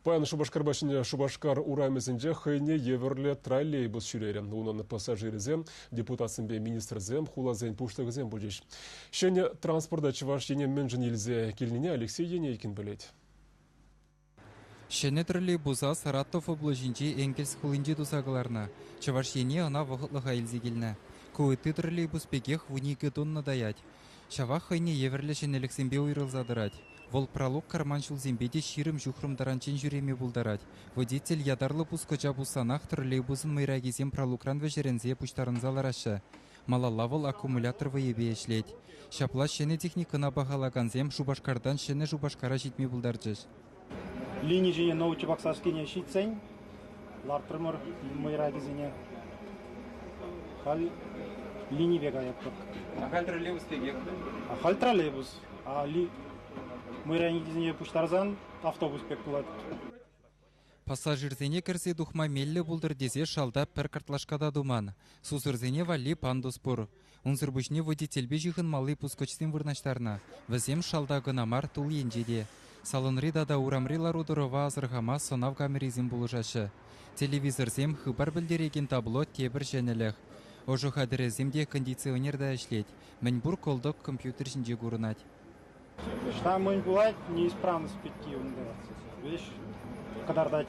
Паян Шупашкарпа Ҫӗнӗ Шупашкар урамӗсенче хӑйне евӗрлӗ троллейбус ҫӳрерӗ. Унӑн пассажирӗсем, депутатсемпе министрсем, хуласен пуҫлӑхӗсем пулчӗҫ. Ҫӗнӗ транспорта Чӑваш Ене мӗншӗн илсе килнине Алексей Енейкин пӗлет. Ҫӗнӗ троллейбуса Саратов облаҫӗнчи Энгельс хулинче туса кӑларнӑ. Чӑваш Ене ӑна вӑхӑтлӑха илсе килнӗ. Ку ытти троллейбус пекех вун икӗ тунна таять. Ҫавах хӑйне евӗрлӗ ҫӗнӗлӗхсемпе уйрӑлса тӑрать. Вӑл пралук карман ҫулсемпе те ҫирӗм-ҫухрӑм таранччен ҫӳреме пултарать. Водитель ятарлӑ пускӑча пуссанах троллейбусӑн мӑйракисем пралукран вӗҫерӗнсе пуҫтарӑнса лараҫҫӗ. Малалла вӑл аккумулятор вӑйӗпе ӗҫлет. Ҫапла ҫӗнӗ техникӑна пахалакансем Шупашкартан Ҫӗнӗ Шупашкара ҫитме пултарчӗҫ. лини ҫине научи паксашкине ҫитсен лартрӑмӑр мӑйракӗсене. Халь линипе каятпӑр. А халь троллейбус пекех. А халь троллейбус. А ли мӑйраникӗсене пуҫтарсан автобус пек пулать. Пассажирсене кӗрсе тухма меллӗ пултӑр тесе шалта пӗр картлашка та туман. Сусӑрсене валли пандус пур. Унсӑр пуҫне водительпе ҫыхӑнмалли пускӑчсем вырнаҫтарнӑ. Вӗсем шалта кӑна мар, тул енче те. Салонри тата урамри лару-тӑрӑва асӑрхама сӑнав камерисем пулӑшаҫҫӗ. Телевизорсем, хыпар пӗлтерекен табло тепӗр ҫӗнӗлӗх. Ӑшӑ хатӗрӗсем те кондиционер та ӗҫлет. Мӗнпур кӑлтӑк компьютер ҫинче курӑнать. Ӑҫта мӗн пулать, неисправность пекки унта веҫ кӑтартать.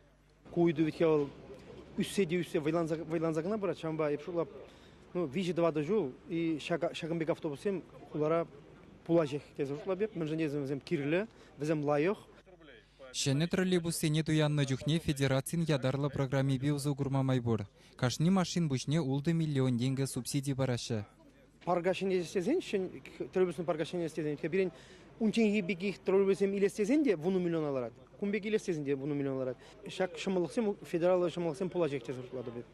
Ку ыйту ведь вӑл ӳссе те ӳссе вӑйланса, вӑйланса кӑна пырать. Ҫавӑнпа эп шутлап, ну, виҫӗ-тӑватӑ ҫул и ҫакӑн пек автобуссем хулара пулаҫҫех тесе шутлап эп, мӗншӗн тесен вӗсем кирлӗ, вӗсем лайӑх. Ҫӗнӗ троллейбуссене туяннӑ чухне федерацин ятарлӑ программипе усӑ курма май пур. Кашни машин пуҫне ултӑ миллион тенкӗ субсиди параҫҫӗ. парка ҫӗнес тесен троллейбуслӑн парка ҫӗнес тесен пирӗн унчченхи пекех троллейбуссем илес тесен те вунӑ миллиона ларать. Кун пек илес тесен те вунӑ миллион ларать. Ҫак ҫӑмӑллӑхсем федераллӑ ҫӑмӑллӑхсем пула ҫеҫ шутлатӑп эп.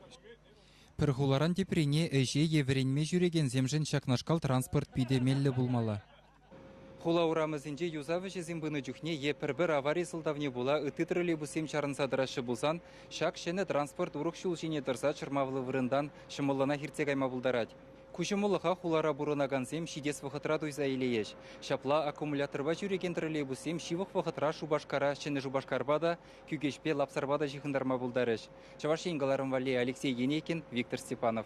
Пӗр хуларан теприне ӗҫе е вӗренме ҫӳрекенсемшӗн ҫакнашкал транспорт питӗ меллӗ пулмалла. Хула урамӗсенче юсав ӗҫӗсем пынӑ чухне е пӗр-пӗр авари сӑлтавне пула ытти троллейбуссем чарӑнса тӑраҫҫӗ пулсан, ҫак ҫӗнӗ транспорт урӑх ҫул ҫине тӑрса чӑрмавлӑ вырӑнтан ҫӑмӑллӑнах иртсе кайма пултарать. Ку ҫӑмӑллӑха хулара пурӑнакансем ҫитес вӑхӑтра туйса илейӗҫ. Ҫапла аккумуляторпа ҫӳрекен троллейбуссем ҫывӑх вӑхӑтра Шупашкара, Ҫӗнӗ Шупашкарпа та, Кӳкеҫпе Лапсарпа та ҫыхӑнтарма пултарӗҫ. Чӑваш Ен кӑларӑм валли Алексей Енейкин, Виктор Степанов.